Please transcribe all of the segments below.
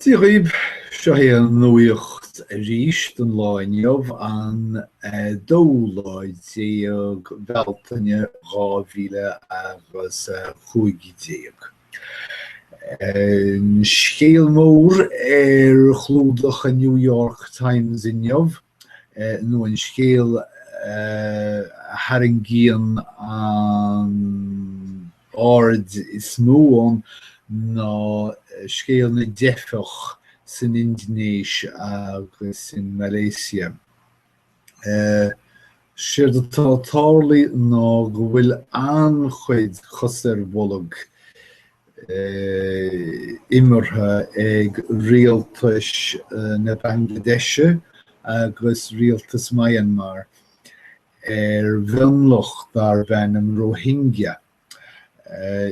Dia dhaoibh, seo é an nuaíocht arís don lá inniu, an dóú lá déag Bealtaine dhá mhíle agus a cúig déag. An scéal mór ar chlúdach an New York Times inniu, nó an scéal a tharraingíonn an aird is mó ann ná scéal na dteifeach san Indinéis agus i Malaeisia. Séard atá ag tarlú ná go bhfuil an-chuid cos ar bolg imeartha ag rialtas na Banglaidéise agus rialtas Myanmar ar mhionlach darb ainm Rohingya.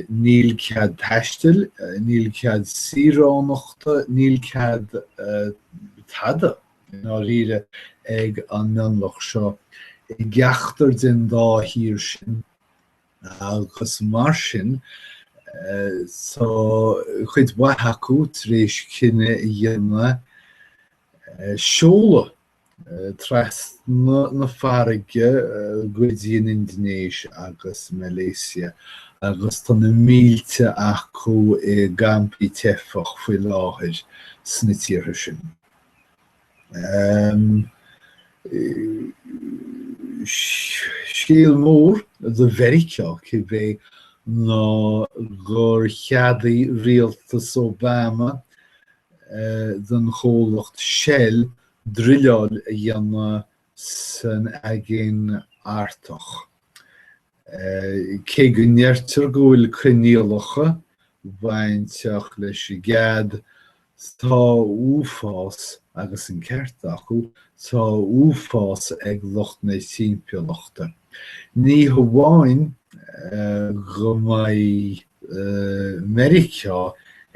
Níl cead taistil, níl cead saoránachta, níl cead tada, i ndáiríre, ag an mionlach seo i gceachtar den dá thír sin. agus mar sin tá cuid mhaith acu tar éis cinneadh a dhéanamh seoladh trasna na farraige go dtí an Indinéis agus Malaeisia agus tá na mílte acu i gcampaí teifeach faoi láthair sna tíortha sin. Scéal mór do Mheiriceá, cibé, ná gur cheadaigh rialtas Obama don chomhlacht Shell druileáil a dhéanamh san Aigéan Artach. Cé go ndeirtear go bhfuil coinníollacha bainteach leis an gcead, tá uafás, agus an ceart, acu, tá uafás ag lucht na timpeallachta. Ní hamháin go mbeidh Meiriceá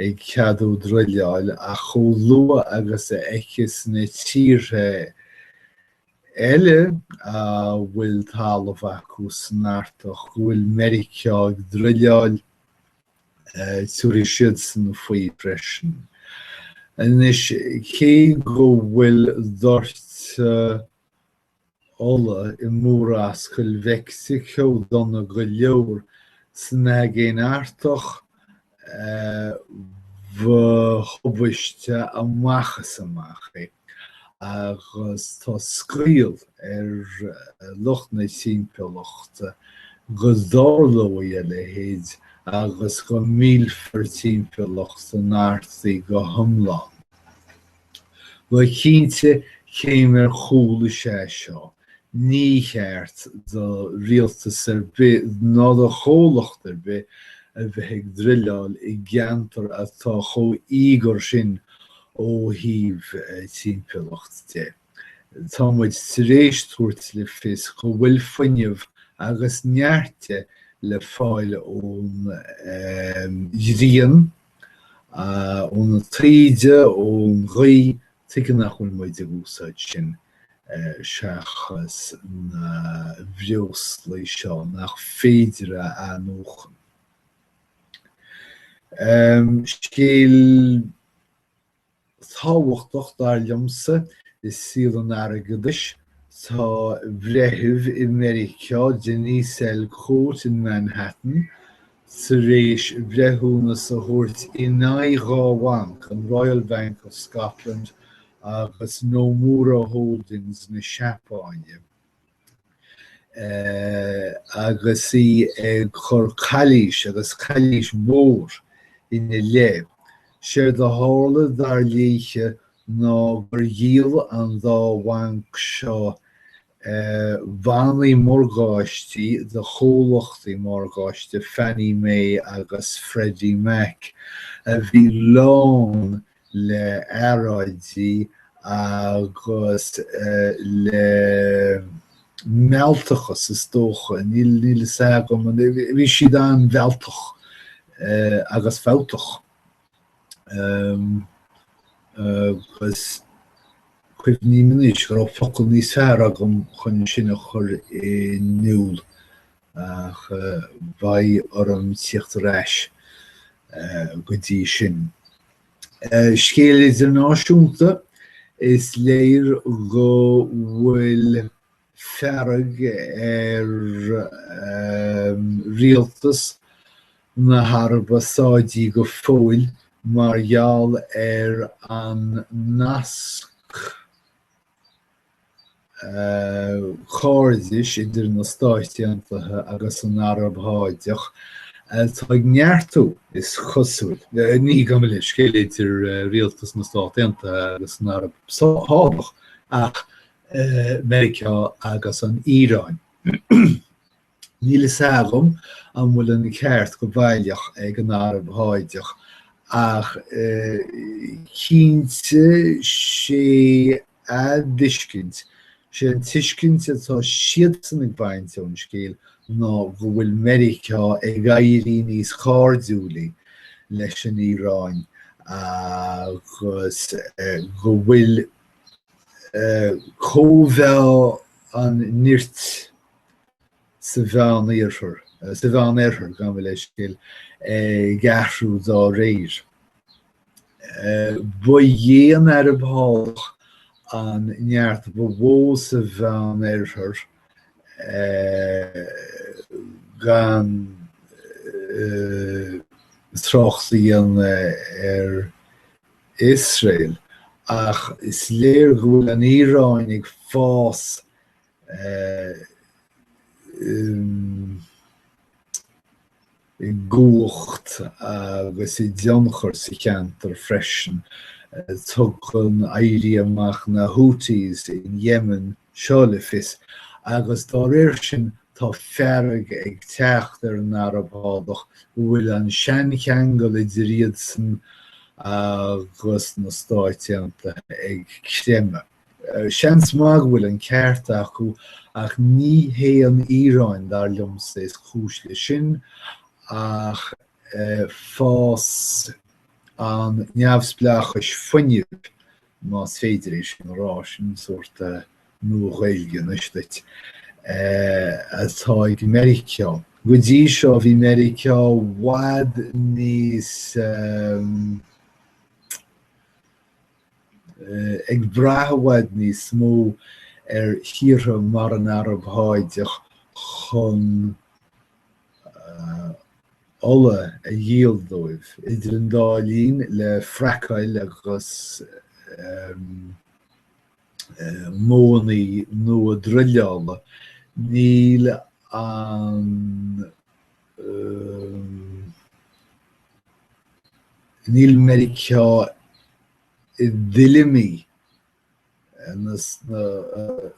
ag ceadú druileáil ach chomh luath agus a fheiceas na tíortha eile a bhfuil talamh acu san Artach go bhfuil Meiriceá ag druileáil, tiúrfaidh siadsan faoi freisin. Anois, cé go bhfuil doirteadh ola i Murascaill Mheicsiceo dona go leor san Aigéin Artach ba thubaiste amach is amach é agus tá scaoll ar lucht na timpeallachta go dtarlóidh a leithéid agus go millfear timpeallacht an Artaigh go hiomlán. Bhuel cinnte céim ar chúl is ea seo. Ní cheart do rialtas ar bith ná do chomhlacht ar bith a bheith ag druileáil i gceantar atá chomh h-íogair sin ó thaobh timpeallacht de. Tá muid tar éis tabhairt le fios go bhfuil fuinneamh agus neart de le fáil ón ghrian, Ó na taoide, ón ghaoth, tuige nach bhfuil muid ag úsáid sin seachas na breoslaí seo nach féidir a athnuachan? Scéal tábhachtach dar liomsa i saol an airgeadais. Tá breitheamh i Meiriceá, Denise L. Cote in Manhattan, tar éis breithiúnas a thabhairt in aghaidh dhá bhanc, an Royal Bank of Scotland agus Nomura Holdings na Seapáine. agus í ag cur calaois agus calaois mhór ina leith. Séard a tharla dar léithe ná gur dhíol an dá bhanc seo bannaí morgáistí do chomhlachtaí morgáiste Fannie Mae agus Freddie Mac a bhí lán le earráidí agus le mealltachas is dócha, níl a fhios agam, bhí siad an-mhealltach agus fabhtach agus cuimhin liom anois go raibh focal níos fearr agam chun sin a chur in iúl ach beidh orm tíocht ar ais go dtí sin. Scéal idirnáisiúnta, Is léir go bhfuil fearg ar rialtas na hAraibe Sáidí go fóill mar gheall ar an nasc chairdis idir na Stáit Aontaithe agus an Araib Sháideach atá ag neartú, is cosúil. Ní gurb é an scéal idir rialtas na Stát Aontaithe agus an Araib Sháideach ach Meiriceá agus an Iaráin. Níl a fhios agam an bhfuil an ceart go baileach ag an Araib Sháideach ach cinnte sé an tuiscint, sé an tuiscint atá siadsan ag baint ón scéal ná go bhfuil Meiriceá ag éirí níos cairdiúlaí leis an Iaráin agus go bhfuil cóimheá an nirt, sa Mheánoirthear, sa Mheánoirthear, go bhfuil an scéal ag athrú dá réir. Ba í an Araib Sháideach an neart ba mhó sa Mheánoirthear, gan trácht a dhéanamh ar Iosrael, ach is léir go bhfuil an Iaráin ag fás i gcumhacht agus i dtionchar sa cheantar freisin. Tugann éirí amach na Houthis in Yemen seo le fios agus dá réir sin tá fearg ag teacht ar an Araib Sháideach go bhfuil an seancheangal idir iadsan agus na Stáit Aontaithe ag creimeadh. Seans maith go bhfuil an ceart acu ach ní hé an Iaráin, dar liomsa, is cúis leis sin ach fás an neamhspleáchais fuinnimh, más féidir é sin a rá, sin sórt Nua-Ghaeilge anois duit, atá ag Meiriceá. Go dtí seo bhí Meiriceá i bhfad níos. ag brath i bhfad níos mó ar thíortha mar an Araib Sháideach chun ola a dhíol dóibh. Idir an dá linn, le fraiceáil agus modhanna nua druileála, níl an. Níl Meiriceá i dtuilleamaí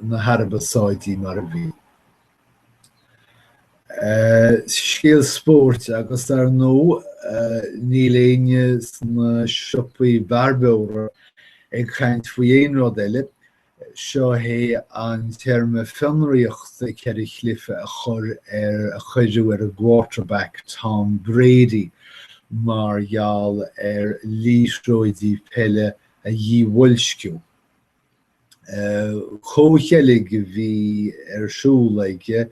na hAraibe Sáidí mar a bhí. Scéal spóirt agus ar ndóigh níl éinne sna siopaí bearbóra ag caint faoi aon rud eile Seo hé an téarma fionraíochta ceithre chluiche a chur ar a cuireadh ar an gquarterback Tom Brady mar gheall ar liathróidí peile a dhíbhoilsciú. Comhcheilg a bhí ar siúl aige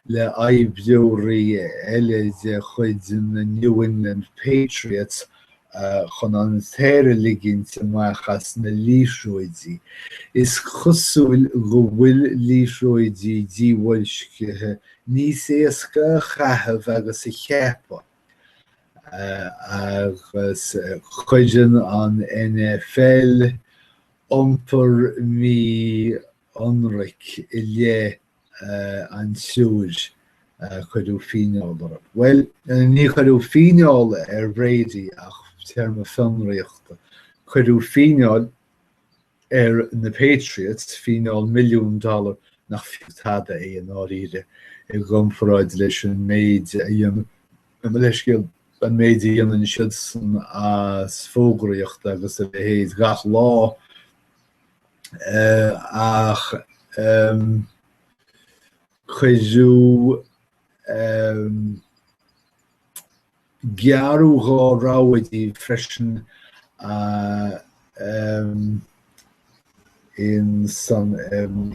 le hoibreoirí eile de chuid na New England Patriots chun an t-aer a ligint amach as na liathróidí. Is cosúil go bhfuil liathróidí díbhoilscithe níos éasca a chaitheamh agus a cheapadh agus cuireann an NFL iompar mí-ionraic i leith an triúir a cuireadh fíneáil orthu. Bhuel, níor cuireadh fíneáil ar Bhrady ach téarma fionraíochta. Cuireadh fíneáil ar na Patriots, fíneáil milliún dollar nach fiú tada é i ndáiríre i gcomparáid leis an méid a dhéanann, leithscéal, an méid a dhéanann siadsan as fógraíocht agus a leithéid gach lá. ach cuireadh gearradh dhá rogha díobh freisin in san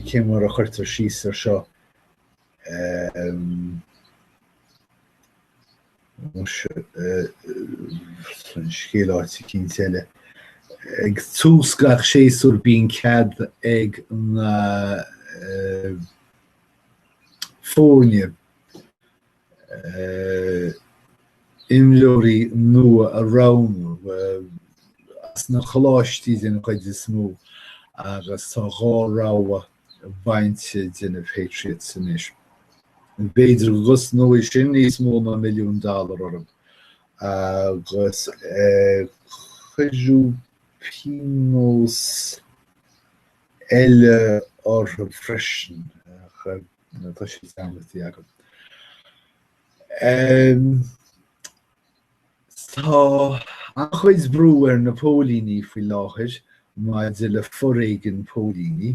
cé mar a chuirtear síos ar seo. Scéal áit eicínt eile. Ag tús gach séasúir bíonn cead ag na foirne imreoirí nua a roghnú. As na coláistí den chuid is mó agus tá dhá rogha bainte de na Patriots anois. B'fhéidir go gcosnóidh sin níos mó ná milliún dollar orthu agus cuireadh pionós eile orthu freisin ach tá siad ceangailte agam. Tá an-chuid brú ar na póilíní faoi láthair maidir le foréigean póilíní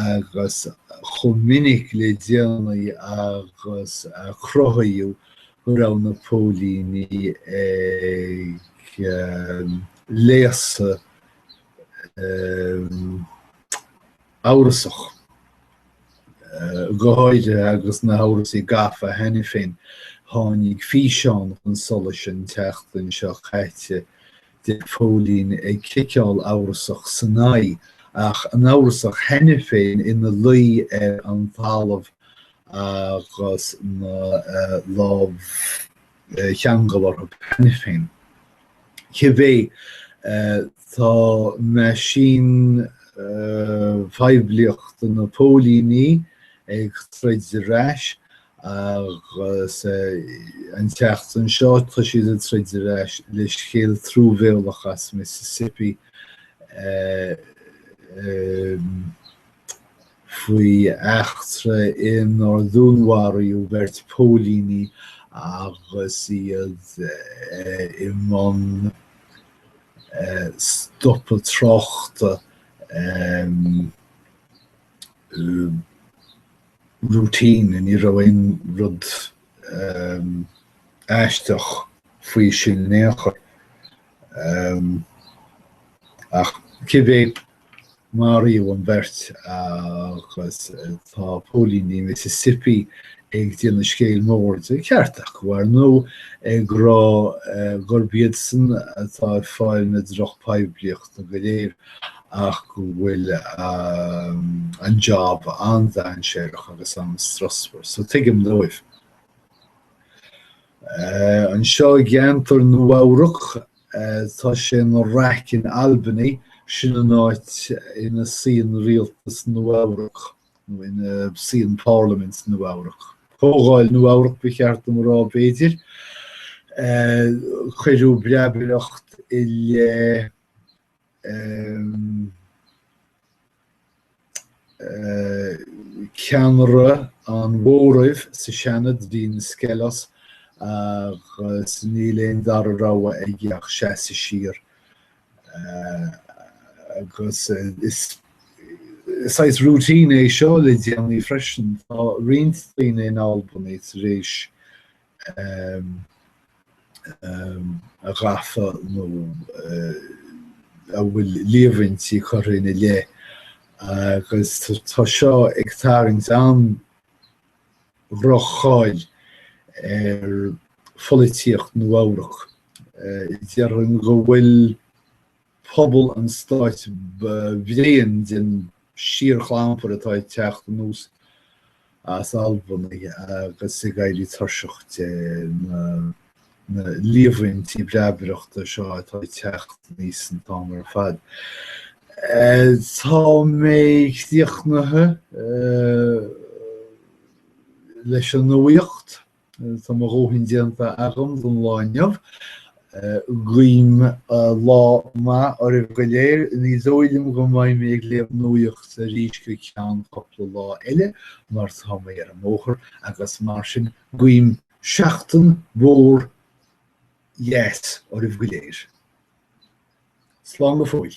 agus chomh minic le déanaí agus a cruthaíodh go raibh na póilíní ag léasadh amhrasach, go háirithe agus na hamhrasaí gafa cheana féin. Tháinig físeán chun solais an tseachtain seo caite de phóilín ag ciceáil amhrasach san aghaidh, agus an amhrasach cheana féin ina luí ar an talamh agus na lámha. ceangailte cheana féin. Cibé, tá meaisín phoiblíochta na bpóilíní ag troid ar ais agus an tseachtain seo tá siad ag troid ar ais le scéal truamhéalach as Mississippi faoi eachtra inar dúnmharaíodh beirt phóilíní agus iad i mbun stopadh tráchta routine, ní raibh aon rud aisteach faoi sin in aon chor ach cibé Maraíodh an bheirt agus tá póilíní Mississippi ag déanamh scéal mór de. Ceart go maith, ar ndóigh, ag rá gurb iadsan atá ag fáil na drochphoiblíochta go léir ach go bhfuil an jab an-dainséarach agus an-strusmhar. So tuigim dóibh. Anseo i gceantar Nua-Eabhrac, tá sé ina raic in Albany, sin an áit ina suíonn rialtas Nua-Eabhrac, nó ina suíonn parliament Nua-Eabhrac. Comhdháil Nua-Eabhrac ba cheart dom a rá, b'fhéidir. Cuireadh breabaireacht i leith. ceannaire an mhóraimh sa Seanad, Dean Skelos, agus níl aon dara rogha aige ach seasamh siar agus is saghas routine é seo le déanaí freisin. Tá roinnt daoine in Albany tar éis a bheith gafa nó a bhfuil líomhaintí curtha ina leith agus tá seo ag tarraingt an-dhroch-cháil ar pholaitíocht Nua-Eabhrac. Déarfainn go bhfuil pobal an stáit bréan den síorchlampar atá ag teacht anuas as Albany agus ag éirí tuirseach de na líomhaintí breabaireachta seo atá ag teacht aníos an t-am ar fad. Tá mé críochnaithe leis an nuaíocht. Tá mo dhóthain déanta agam don lá inniu. Guím lá maith oraibh go léir. Ní dóigh liom go mbeidh mé ag léamh nuaíocht arís go ceann cupla lá eile mar tá mé ar an mbóthar agus mar sin guím seachtain mhór dheas oraibh go léir. Slán go fóill.